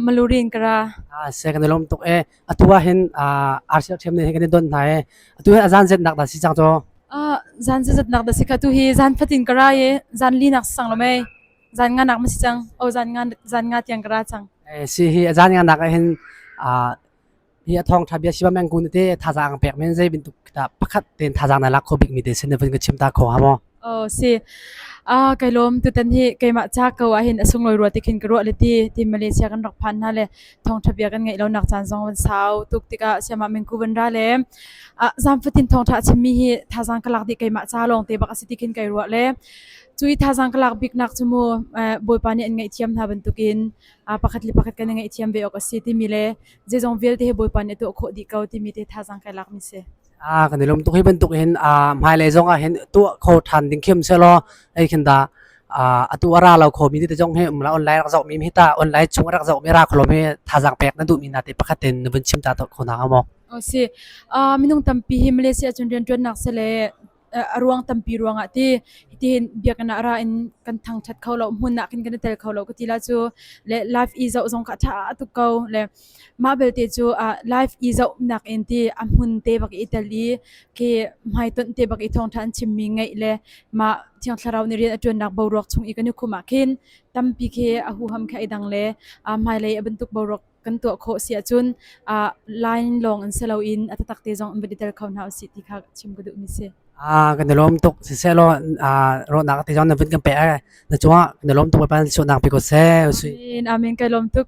Malurin kara. Se kan lom tuk e. Atua hin arsial thiam ne kan don hna e. Atu hin azan zet nak da si chang to. Zan zet nak da si ka tu hi zan fatin kara ye zan li nak sang lo me. Zan nga nak ma si chang. O zan nga zan nga tiang kara chang. Si hi azan nga nak hin hi a thawngtha bia sivameng kun te thazaang pek men zei bintuk pakhat ten thazaang na lak kho bik mi te sin vun ka chim ta kho ha mo oh si a kai lom tu tan hi keima cha ko a hin asung loi ruwa tikhin ka ruwa leti ti malaysia kan rak phan na le thongtha bia kan ngai lo nak chan zong wan sau tuk tika siama mengku ban ra le a zamfatin thongtha chimmi hi thazaang kalak di keima cha long te bak asiti khin kai ruwa le cui thazaang kalak bik nak chumu boypa ni an ngai thiam na bantukin a pakhat li pakhat kan ngai thiam ve ok asi ti mi le Zeizong vialte hi Bawipa nih a tuah khawh dih ko timi te thazaang kai lakmi si. A kan i lum tuk hi bantuk hin a hmailei zong ah hin tuah kho ṭhan ding khiam sehlaw ei khin da atu a ra lo kho mi te zong hi um la online rak zoh mi hi ta online chung rak zoh mi ra kholo mi thazaang pek na duh mi na te pakhat in na vun chim ta kho na hnga maw? O si. Minung tampi hi Malaysia cun rianṭuannak si le a ruang tampi ruangah ti hitin biakinn ah ra in kan thangṭhat kho lo hmun ah kan kan i tel kho lo ka ti la cu le life i zoh zong ka ṭha tuk ko le mah belte cu life i zoh nak in ti a hmun te bak i tel i ki hmaitonh te bak i thawngṭha an chimmi ngaih le mah thiang thlarau ni rian a ṭuannak boruak chung i kan i khum ah khin tampi khi a huham kha i dang le a hmailei a bantuk boruak kan tuah khawh si ahcun ah line lawng in si loin a tatak te zong in va i tel kho hna usih ti kha chim ka duhmi si. Ah kan i lawm tuk siseh law ah rawhnak te zong na vun kan pe na cungah kan i lawm tuk Bawipa sunak pe ko seh usih. Amin, amin kai lawm tuk.